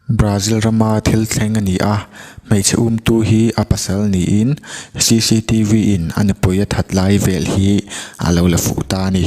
Brazil rama thil thleng a ni a, hmeichhe umtu hi a pasal niin CCTV in a nupui a that lai vel hi a lo la fuh ta a ni.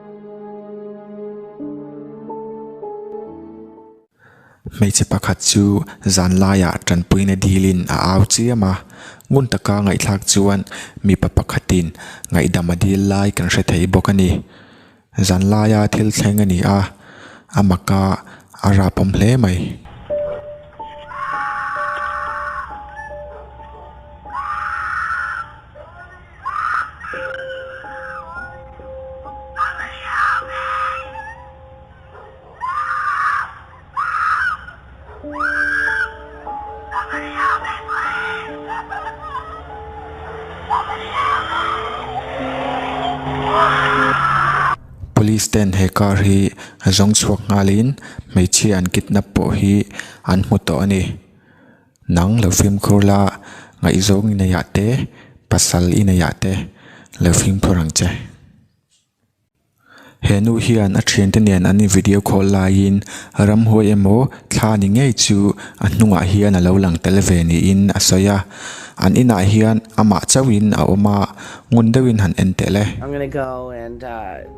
Hmeichhe pakhat chu zan laiah tanpuina dilin a au chiam a. Ngun taka ngaihthlak chuan mipa pakhatin ngaihdam a dil lai kan hre thei bawk a ni. Zan laia thil thleng a ni a, a maka a rapawm hle mai. Police ten he car hi zawng chhuak nghal in hmeichhia an kidnap pawh hi an hmu tawh a ni. Nang lo fimkhur la, ngaihzawng i neih ah te, pasal i neih ah te lo fimkhur ang che. He nu hian a thiante nen an invideo call laiin ramhuai emaw thla ni ngei chu a hnungah hian a lo lang tel ve niin a sawi a. An inah hian amah chauhin a awm a, ngun deuhin han en teh le.